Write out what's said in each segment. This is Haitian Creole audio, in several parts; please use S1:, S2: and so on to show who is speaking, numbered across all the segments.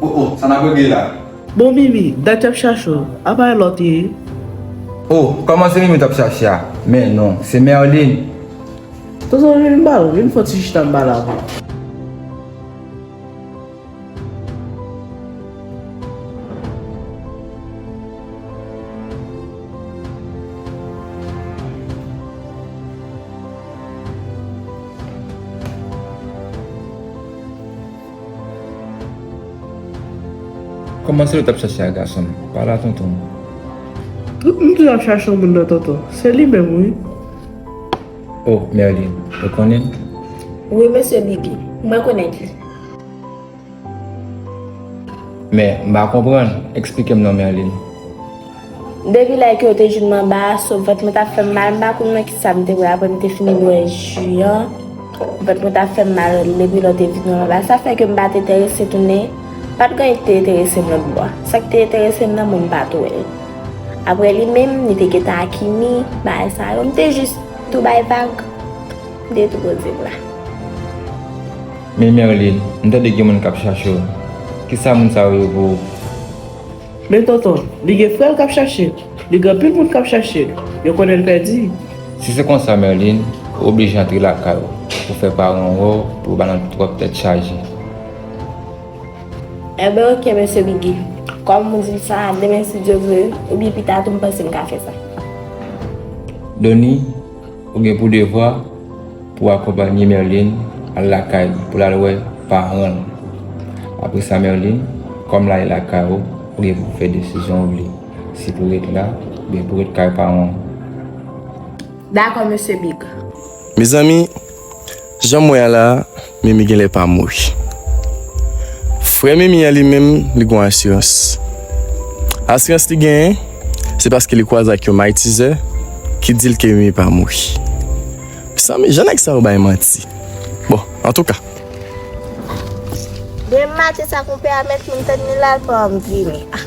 S1: Oh oh sa nap regle la. Bon mimi
S2: dat yap chache w a pa yon lot ye.
S1: Oh koman se mimi tap chache a men non se merline.
S2: Tonton vin bal vin fon ti chita m bal avw.
S1: Kòman se yo tap chache a gason m pa la tonton. M
S2: toujou ap chache yon moun nan tonton se li menm wi.
S1: Oh Merline ou konnen. Wi
S3: mesye Bibi mwen konnen li.
S1: Men, m pa konprann, eksplike m non Merline.
S3: Depi lè ke yo te jwenn m anba a, so vant mwen t ap fè m mal, m pa konn nan kisa m te bwè apre m te fini bwè ji an, vant mwen t ap fè m mal depi lò te vin anba a, sa fè ke m pa t enterese tounen, pa t gen anyen ki te enterese m lòt bò a. Sa ki te enterese m nan mwen m pa t wè l. Apre li menm, li te gentan ak Ymi, bagay sa yo, m te jis tou bay vag, m te tou poze bra.
S1: Men Merline, m tande gen moun kap chache w. Kisa moun sa yo ye pou ou?
S2: Men Tonton, li gen frè l kap chache l. Li gen anpil moun kap chache l. Yo konnen l pèdi. Si se konsa
S1: Merline, ou oblije antre lakay ou pou fè paran w wè w pou yo pa nan twòp tèt chaje. Enben
S3: ok Mesye Biggy, kòm ou di m sa, demen si Dye vle, oubyen pita tou m panse m ka fè sa.
S1: Donnie, Ou gen pou devwa pou w akonpanye Merline al lakay li pou l al wè paran l. Apre sa Merline, kòm la e lakay ou, ou gen pou fè desizyon w vle, si pou ret la oubyen pou ret kay paran w.
S3: Dakò Mesye Big. Mezanmi,
S4: Janm wè a la mimi genlè pa mouri frè mimi an li menm li gon asirans asirans li genyen se paske li kwaze ak yon maytizè ki dil ke mimi pa mouri mezanmi jan nèg sa yo bay manti bon antouka.
S3: Gen mati sa konpè a mèt finn tann li la l pa anvi vini ahh.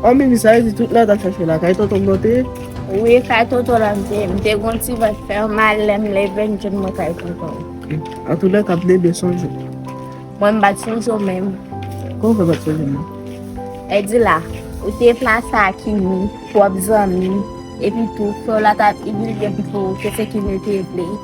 S2: An mimi sa vle di tout la ta chache la kay tonton mwen te? Wi kay
S3: tonton la mte, mte gon ti vant fèm mal lèm leve m jwenn mwen kay tonton. An tou lè kap
S2: bebe sonje. Mwen m
S3: bat sonje w menm. Kòman fè bat
S2: sonje mwen? Edi
S3: la, ou te plase a kimi, twòp zanmi, epi tou frè w la tap imilye m pou ou, se se kimi l te vle.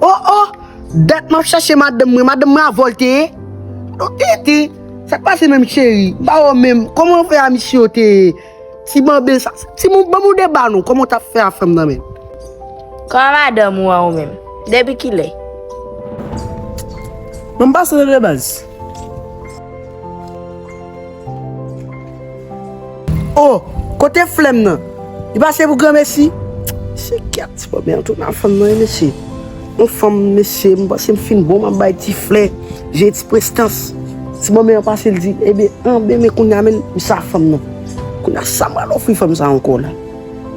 S5: Oh oh! Dat map chache madanm mwen, madanm mwen a volte e? Donk tete, sak pase menm cheri? M pa wè w menm, kòman w fè a misye w te ye? Ti bòbe sa, ti moun ban m yon deba non, kòman w tap fè a fanm nan menm? Kòman
S3: madanm ou an ou menm? Depi kilè?
S2: Bon m pase w le baz.
S5: Oh kote flèm nan li pa se pou gran mesi. Mesye kèt ti bòbè an tou nan fanm nan wi mesye yon fanm mesye m panse m fin bon map bay ti flè je ti prestans ti bòbè an pase l di ebe anbe men kounya menn m sa fanm nan kounya sa m pral ofri fanm sa ankò la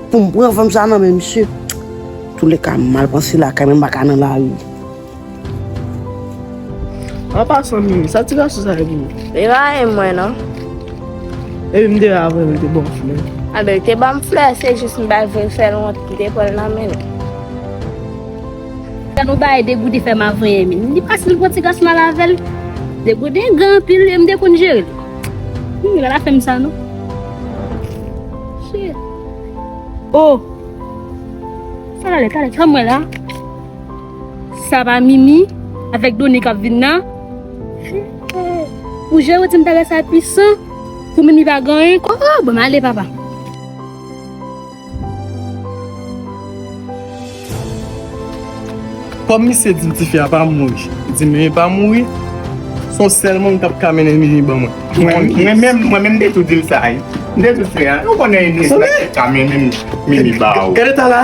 S5: pou m pran fanm sa nan men misye antoulèka m mal panse lakay men m pa ka nan lari.
S2: An pasan mimi, sa ti gason sa ye pou ou? Li pa renmen
S3: mwen non.
S2: Epi m te wè avan li te ba w flè. A ben li te
S3: ban m flè, se jis m pa vle l fè l wont m te pran l nan men l.
S6: Gad yon bagay Degoude fè m avan yè mimi. Li pa stil pou ti gason al avè l. Degoude gran anpil e m te konn jere l. Mimi pa ta fè m sa non. Cheri. Oh! Sa pral lè talè, fè m wè la. Sa pa mimi avèk doni kap vin nan. Ou jere ti m bagay sa pwisan pou mimi pa gen anyen ko oh bon ale papa.
S4: Kòm misye di ti fi a pa mouri li di mimi pa mouri son sèl moun kap ka mennen mimi ban mwen. Mwen menm mwen
S1: menm m te tou dil sa wi m te tou di a ou konnen Eunice la ki ka mennen mimi ba ou. Gad eta la.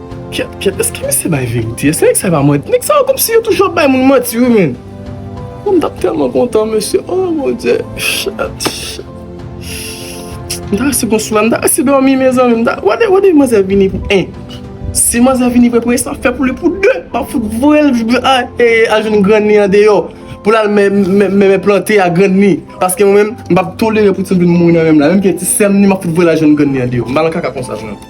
S4: Kyèt kyèt eske misye bay verite eske nèg sa yo pa manti nèg sa yo komsi yo toujou ap bay moun manti wi menn oh mtap tèlman kontan mesye oh bondye chat chat mta resi gon sou la mta resi dòmi mezanmi mta wade wade manzè vini pou 1 si manzè vini pou 1 premye sam fè pou li pou 2 map fout voyel al jwenn grann li andeyò poul al mèmè plante a grann li paske mwen menm mpap tolere pou timoun vin mouri nan menm la menm ke ti sèm ni map fout voyel al jwenn grann li andeyò mpa nan kaka konsa mwen.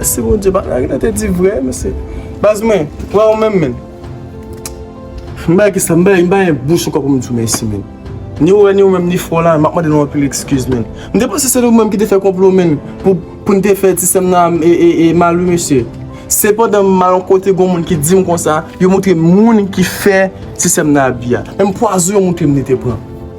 S4: Si bon Dieu pa lage nan te di vre mesye. Baz mwen, wè ou menm menm. M bay kisa, m bay, m bay bouch ankò pou m di w mèsi menm. Ni ou wè ni ou menm ni fò la, m ap mande nou anpil ekskiz menm. M te panse se nou menm ki te fè konplo menm pou pou n te fè ti sè m nan e mal wi mesye. Se pandan m al yon kote gon moun ki di m konsa, yo montre m moun ki fè ti sè m nan abi a. Menm pwazon yo montre m li te pran.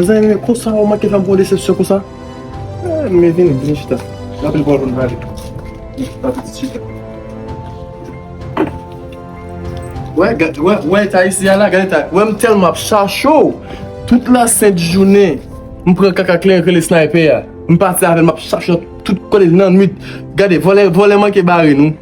S4: Mezanmi men konsa ou manke fèm pran yon desepsyon konsa? An men vini, vini chita. Gen anpil pawòl pou nou pale. Chita pitit, chita. Wè, gad, wè, wè eta isi a la, gad eta. Wè m tèlman ap chache w, tout la sent jounen m pran kaka kleren k rele Sniper a. M pati avè l m ap chache l tout kote nan nwit. Gade, vòlè, vòlè manke bare nou.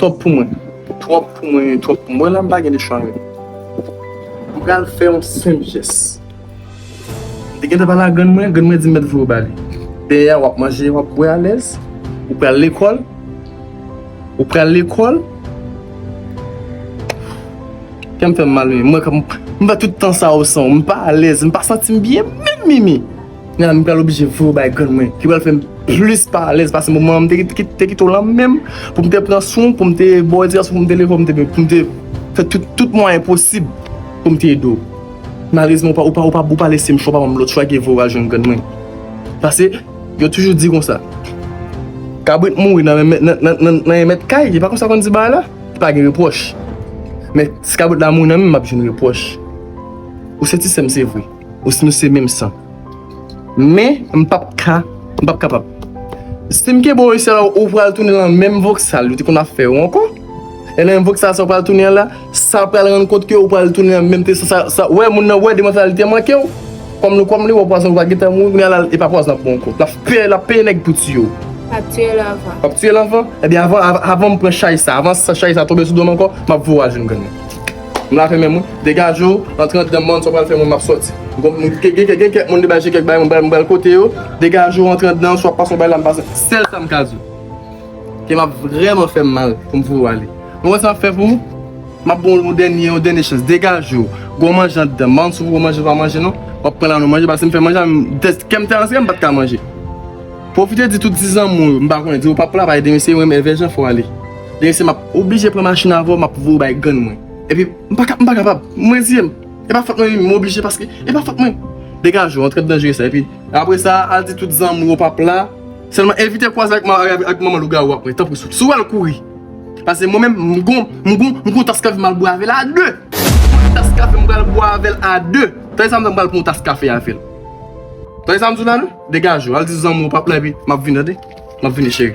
S4: Twòp pou mwen Twòp pou mwen Twòp pou mwen la m pa gen lechwa menm M pral fè yon senp jès M te gentan pale ak grann mwen Grann mwen di m mèt vwe w ba li Dèyè a w ap manje w ap bwè alèz Ou pral lekòl Ou pral lekòl Kè m fè m mal wi M wè kòm m fè tout tan sa w san w M pa alèz M pa santi m byen menm Mimi. Nana m pral oblije voye w bay grann mwen ki pral fè m plis pa alèz pase moman an m te kite w la menm pou m te pran swen w, pou m te ba w edikasyon, pou m te leve w, pou m te fè tout mwayen posib pou m te ede w. Malerezman ou pa lese m chwa, ou pa ban m lòt chwa ke voye w al jwenn grann mwen. Pase yo toujou di konsa, kabrit mouri nan men mèt kay, e pa konsa yo konn di bagay la? Li pa gen repwòch. Men si kabrit la mouri nan men m, m ap jwenn repwòch. Ou se ti sè m se vre. Osnon se menm san. Men, m p ap ka, m p ap kapab. Si m kenbe w isi la, ou pral tounen lan menm voksal ou te konn ap fè yo ankò. E lan menm voksal sa ou pral tounen an la, sa pral rann kont ke ou pral tounen lan menm tèks la. Sa, wè, moun nan wè de mantalite an manke w. Kòm li, kòm li wè w pwazon ou pa gen tan mouri, kounye a la, e pa pwazon l ap bo ankò. L ap pè, l ap peye nèg pou tiye w. L ap tiye l anvan. L ap tiye l anvan? Ebyen, avan, avan m pran chay sa, avan chay sa tonbe sou do m ankò, m ap voye w al jwenn grann mwen. M lave menm wi. Degaje w, antre andan m man, sa w pral fè mwen m ap sòti. Gen kèk moun li bay je kèk bagay m pral kote yo. Degaje w antre andan, sa w ap pase w bay la m pase. Sèl sa m ka di w, ke m ap vrèman fè m mal pou m voye w ale. Ou wè sa m ap fè pou ou? M ap ban w yon dènye, yon dènye chans. Degaje w. Gen w manje andan. Man si w vle w manje, si w pa manje non, w ap pran la nou manje paske m fè manje a m te, kè m te antre m pa t ka manje. Pwofite di tout ti zanmi w yo, m pa konnen, di yo pap la pa ede m eseye m renmen vèjan fò ale. Dèyè se map oblije pran machin avèw map voyew bay grann mwen epi m pa kapab m reziye m e pa fòt mwen m oblije paske e pa fòt mwen degaje w antre m nan jere sa epi apre sa al di tout zanmi w pap la sèlman evite kwaze ak manman lougawou wap wè tanpri si w wèl kouri paske mwen menm m gon m gon m gon tas kafe map bwè avèl a 2 mwen tas kafe m pral bwè avèl a 2 tande sa m di la m pral pran yon tas kafe avèl tande sa m di w la non degaje w al di zanmi w pap la epi map vini tande map vini cheri.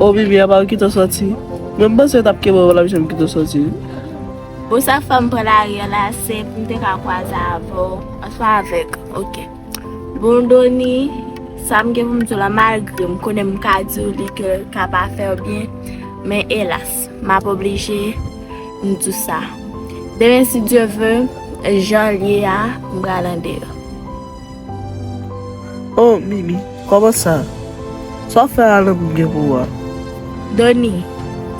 S2: Oh Bibi apa ou kite w soti. Mwen m panse yo tap kenbe w la Bichon m kite w soti wi. Bon sa
S3: k fè m pran lari an la se pou m te ka kwaze avè w oswa avèk ok bon Doni sa m gen pou m di w la malgre m konnen m ka di w li ke l ka pa fè w byen men elas m ap oblije m di w sa demen si Dye ve jan l ye a m pral ande l.
S2: Oh Mimi kòman sa? Sa wap fè a lanmou m gen pou ou a? Dony,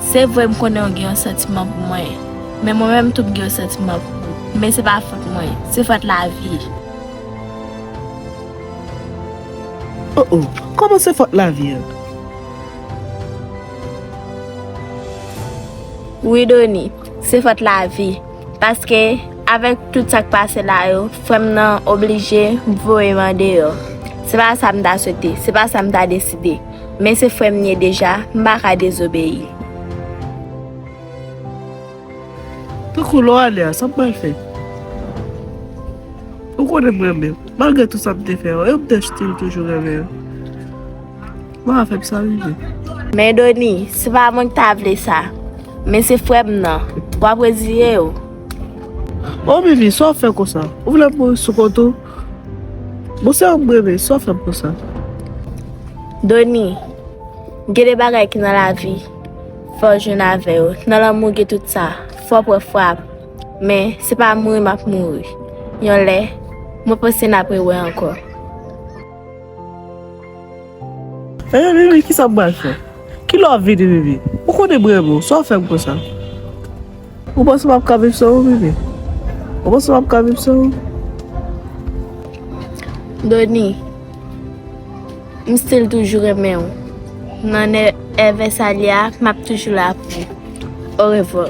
S3: Se vre m konnen ou gen yon santiman pou mwen, men mwen menm tou m gen yon santiman pou ou, men se pa fòt mwen, se fòt lavi.
S2: Oh oh, kòman se fòt lavi an?
S3: Wi Dony, se fòt lavi. Paske avèk tout sa k pase la yo, frè m nan oblije voye m andeyò. Se pa sa m ta swete, se pa sa m ta deside. Men se frè m ye deja, m pa ka dezobeyi.
S2: Tankou lè w ale a, sa m pral fè? Ou konnen m renmen w. Malgre tout sa m te fè, ou menm Dèf still toujou renmen w. Bon afè psa wi je. Men Doni,
S3: se pa mwen ki ta vle sa, men se frè m nan. W ap reziye
S2: w? O Vivi, sa w fè konsa? Ou vle m mouri sou kont ou? Bon se ou m renmen, sa w fè m konsa?
S3: Doni, gen de bagay ki nan lavi, fò w jwenn avè yo. Nan lanmou gen tout sa, fò w pran frap. Men, se pa mouri m ap mouri. Yon lè, mwen panse n ap rewè ankò.
S2: Eeh Vivi kisa m pral fè? Ki lè wap vini Vivi? Ou konnen m renmen w, sa w fè m konsa? Ou panse m ap ka viv san ou Vivi? Ou panse m ap ka viv san ou?
S3: Doni, m stil toujou renmen w. Nan èh Vèsalya a, m ap toujou la pou ou. Orevwa.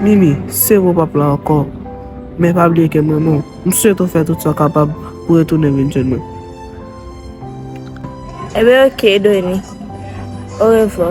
S2: Mimi, sevo pap la ankò. Men pa bliye ke m renmen w. M swete w fè tout sa w kapab pou retounen vin jwenn mwen.
S3: Ebyen ok Doni. Orevwa.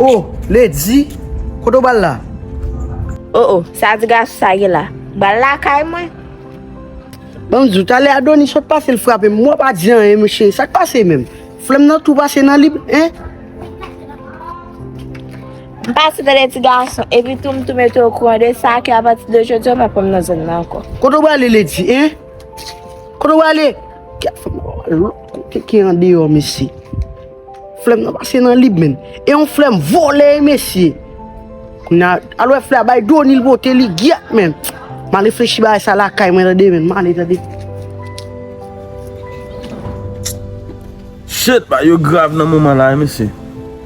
S5: Oh lady kote ou bal la. Oh oh
S3: sa ti gason sa gen la. Bal lakay mwen.
S5: Banm diw talè Adonis sot pase l frapem mwen pa di anyen mesye sak pase menm flèm nan tou pase nan li hein.
S3: M pase vè de ti gason epi tou m tou mete w okouran de sa ke apati de jodi a w pa pran m nan zòn nan ankò. Kote w prale lady hein
S5: kote w prale. Kote ki andeyò mesye. Flèm nan pase nan lib menn. E yon flèm vole mesye. Kounya alwe flè a bay doni l pote li gyèt menn. Ma reflechi bagay sa lakay mwen tande menn. Ma ale tande.
S7: Shit bagay yo grav nan moman la wi mesye.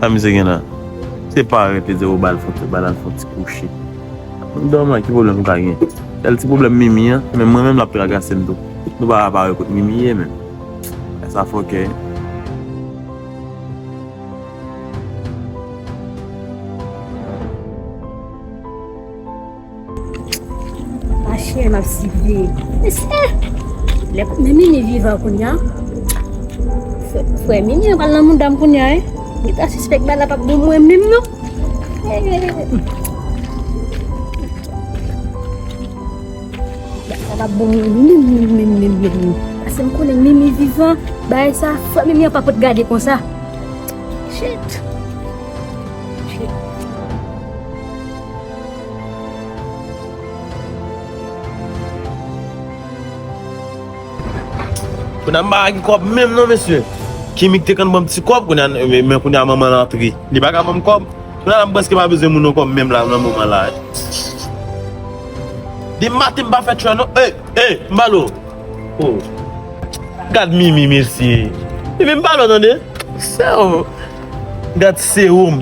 S7: Sa misye gen nan. Se pa rete di ou bal fon bal al fon ti kouche. Ou domi an ki pwoblèm ou ka gen. Sèl ti pwoblèm mimi an men mwen menm lap tragasem tou. Nou pa ka pa wè kot mimi ye men. Nèg sa fòkè.
S6: Pa chè m ap sibi. Eskè lè konnen Mimi vivan kounya frè Mimi an pral nan mouda m kounya e? M gentan sispèk bagay la pap bon mwen menm non. Bagay la pap bon mwen menm menm menm menm menm menm. Paske m konnen Mimi vivan bagay sa frè Mimi an pa pot gade konsa. Shit!
S7: Kounye a m pa gen kòb menm non mesye Kimmy te konn ban m ti kòb kounye a men kounye a manman l antre li pa ka ban m kòb kounye a la m prèske pa bezwen moun ankò menm la nan moman la Depi maten m pa fè tchwè non Ey ey m pale w Oh Gad Mimi mesye Mimi m pale w tande Sèw Gat seum.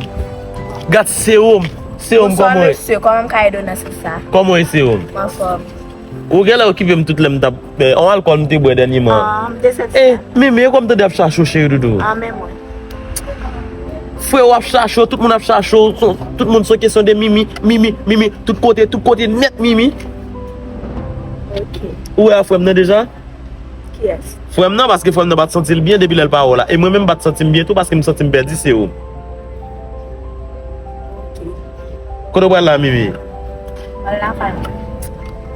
S7: Gat seum. Seum koman e? Bonsoir monsieur, koman m
S3: ka ede
S7: w nan sens
S3: sa? Koman e seum? M anfòm. Ou genlè
S7: okipe m tout lè m tap fè. On alkòl m te bwè dènyeman. Ah, m te
S3: santi sa. Eh, Mimi, e kòm tande ap
S7: chache w cheri doudou. Ah, men mwen. Frè ou ap chache w, tout moun ap chache w, tout moun se kesyon de Mimi, Mimi, Mimi, tout kote, tout kote nèt Mimi.
S3: Ok. Ou wè a frè
S7: m nan deja? Kiyès?
S3: Frèm nan paske frèm nan
S7: pat santil byen depi lèl pa wè w la e mwen menm m pat santim byen tou paskem santim pèdi se ou Ok Kote w pral la Mimi? Pral lakay mwen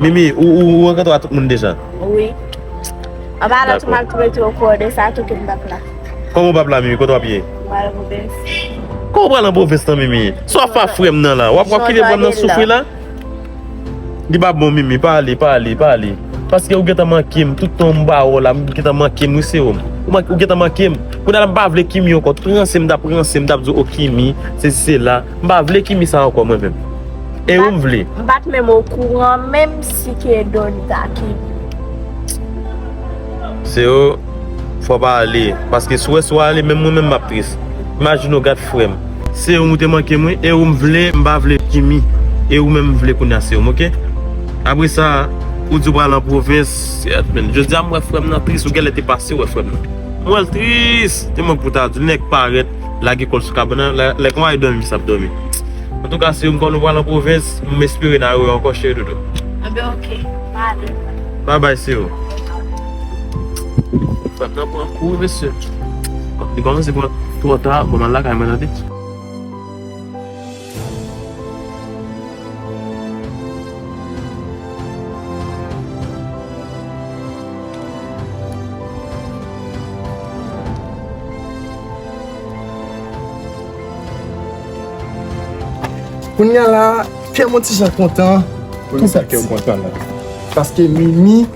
S7: Mimi ou rankontre a tout moun deja? Wi Anba
S3: la tou map tou mete w kò de sa tou kem pap la Kòman w pap la Mimi
S7: kote wap ye? Pral an pwovens
S3: Kòman w pral an
S7: pwovens nan Mimi? Sa wap fè a frèm nan la? Wap kite frèm nan soufri la? Li pa bon mimi pa ale pa ale pa ale paske ou gentan mankem tout tan m ba ou la ou gentan mankem wi seum ou gentan mankem kounya la m pa vle kimi ankò tout ranse m tap ranse m tap di w oh kimi sesi sela m pa vle kimi sa ankò mwen menm e ou m vle. M pat menm okouran
S3: menm si K-Don ta kimi.
S7: Seum. Fwa pa ale paske sou wè sou ale menm mwen menm map tris imajine w gad frèm. Seum ou te mankem wi e ou m vle m pa vle Kimmy e ou menm m vle kounya seum ok apresa ou di ou pral nan provens seat menn jodia m wè frèm nan tris ou genlè te pase wè frèm nan m wèl tris e mwen pou ta dil nèg parèt lage kòl sou kabana lè konwa e dòmi misye ap dòmi antouka seum kòm nou pral nan provens m espere na wè w ankò cheri doudou anben ok
S3: m ale bye bye
S7: seum. Fèt lan pran kou wi mesye. Li kòmanse pran twò ta bon m'al lakay mwen tande.
S4: Kounya la kè mwen ti jan kontan. Poukisa kèw
S1: kontan la? Paske
S4: Mimi.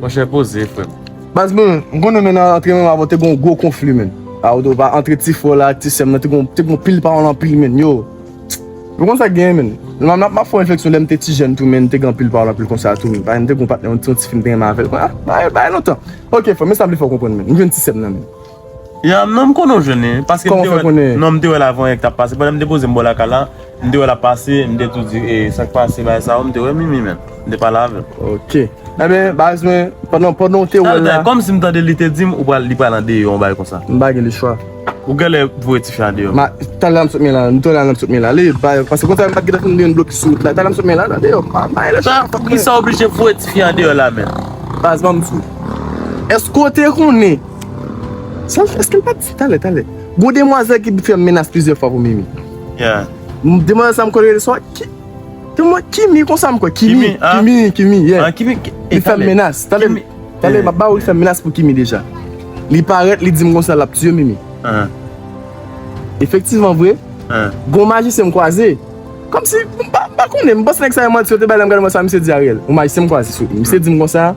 S4: Monchè poze
S7: frèm. Baz mwen, m
S4: konnen men nan antre menm avan te gen yon gwo konfli men. A ou do pa antre ti frè w la ak ti sè m nan te gen te gen yon pil pawòl anpil men yo. M konn sa k genyen men. M ap m ap fè yon refleksyon lè m te ti jèn tou men te gen anpil pawòl anpil konsa tou men. Parèy m te gen yon patnè yon ti fi m te renmen avè l. Bagay bagay lontan. Ok frè m men sa m vle fè w konprann men. M jwenn ti sè m nan men. Ya non m
S7: konnen w jwenn li wi paske m te wè l non m te wè l avan yè k tap pase pandan m te poze m bò lakay la m te wè l ap pase m te tou di e sak pase bagay sa m te wè mimi menm m te pale avè l ok enben
S4: baz mwen pandan pandan w te wè l la kòm si m tande li te di
S7: m ou pral li pral andeyò yon bagay konsa m pa gen le chwa
S4: ou genlè
S7: voye tifi a andeyò ma talè m sot men la
S4: m te wè l al nan m sot men l ale bay paske konsa m pat gentan fin li yon blokis sou wout la talè m sot men l al andeyò pa bay le chwa poukisa
S7: w oblije voye tifi a andeyò la menm baz ban m di
S4: w èske w te konnen. Sa l, èske l pa t di talè, talè, gen yon demwazèl ki fè menas plizyè fwa pou Mimi?
S7: Yeah. Demwazèl sa m
S4: kwè l rele swa Ki, Kimi konsa m kwè, Kimi, Kimi, Kimi, yeah. Ah, Kimi, talè. Li
S7: fè m menas,
S4: talè, talè, m ap ba ou li fè m menas pou Kimi deja. Li parèt, li di m konsa l ap tiye Mimi. Uh-huh. Efektivman vre, gen yon majisyen m kwaze, kòmsi, m pa, m pa konnen, m panse nèg sa yo manti, yo te bay lè m gade m wè sa misye di Ariel. Yon majisyen m kwaze sou, misye di m konsa.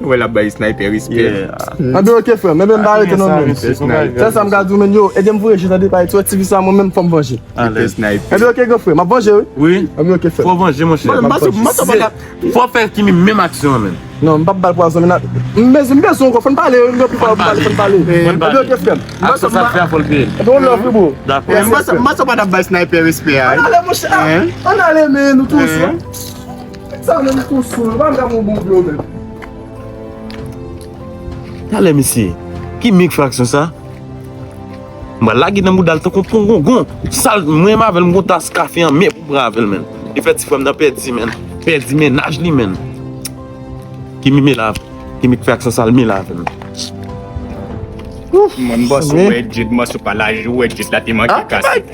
S8: Nou wè lap bay sniper respè. Anben ok frèm,
S4: men menm pa rete non menm. Sèl sa m ka di w menn yo, ede m voye je nan de pay ti wè ti vi sa mwen menm fò m vanje. Anben ok
S8: gran frè, m ap vanje
S4: wi. Anben ok frèm. Fò w vanje mon chè.
S7: Fò w fè kimi menm aksyon an menm. Non m pap bal pwazon
S4: menn. Mezi m bezwen w gò fò n pale yon pi fò fò n pale. Anben ok frèm. Aksyon sa fè a fò l peye l.
S7: Anben on love you bro.
S4: Dakò. M panse w
S7: pa tap bay sniper
S8: respè a. Ann ale mon chè.
S4: Ann ale men nou tou. Sa menm kou sou yo pa janm
S7: yon bon dlo menm. Talè mesye, ki mig fraksyon sa? Mwen lage nan boudal tankou yon pongongon. Sal mwen mavel mwen tas kafe an men pou pran avel men. Li fè ti frem nan pedi men. Pedi men naj li men. Ki mi me la? Ki mig fraksyon sal mi la avel? Mwen
S8: boss ou wè djed mòs ou pa laj ou wè djed la te manke kase.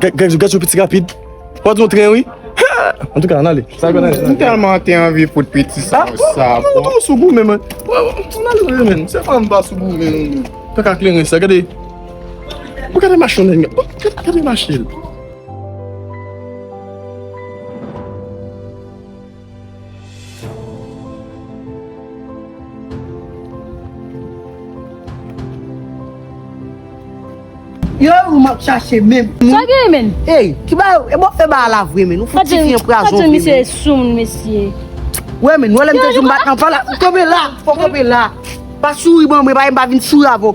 S4: Gèt yo piti rapid. Wap di yon tren wi. An tou ka an ale. M telman te anvi fout
S8: piti sa yo sa. An ale ou sou
S4: goumen men. An ale ou men. Se pa m pa sou goumen ou men. Kaka kleren sa gade. Ou gade mache yon nèg. Gade mache l.
S5: Yo e moun map chache menm. Sa gen menn?
S6: Ey, ki ba yo, e
S5: bon fe ba a la vre menn, ou fout ti fi an prazon vre menn. Fadjou misye e sou moun
S6: mesye. Wè menn, wè
S5: lè m te di w m bat nan pala, ou kanpe la, fò kanpe la. Pa souri ban mwen, pa e m pa vin souri avè w.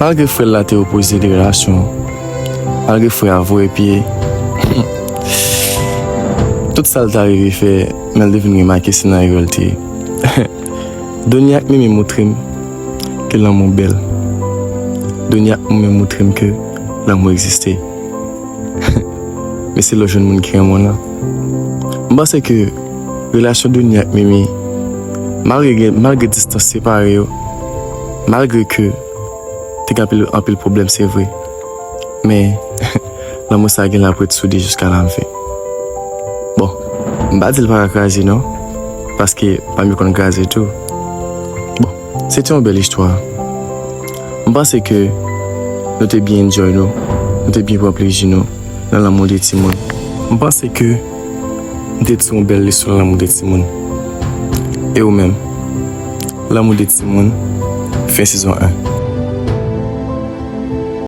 S4: Malgre frè l la te opoze de relasyon an, malgre frè a voye pye tout sa l ta rive fè men l te vin remake se nan erè l te ye. Doni ak Mimi moutre m ke lanmou bèl. Doni ak Mimi moutre m ke lanmou egziste. Men se lè w jwenn moun ki renmen w lan. M panse ke relasyon Doni ak Mimi, malgre gen, malgre distans separe yo, Malgre ke te gen anpil anpil pwoblèm se vre, men lanmou sa gen lè ap ret soude jiska nan fen. Bon, m pa di l pa ka kraze non, paske pa m yo konn kraze tou. Bon, se te yon bèl istwa. M panse ke nou te byen enjoy nou, nou te byen pran plezi nou nan lanmou de timoun. M panse ke. Mte diw bèl leson lanmou de timoun e ou menm lanmou de timoun fen sezon 1.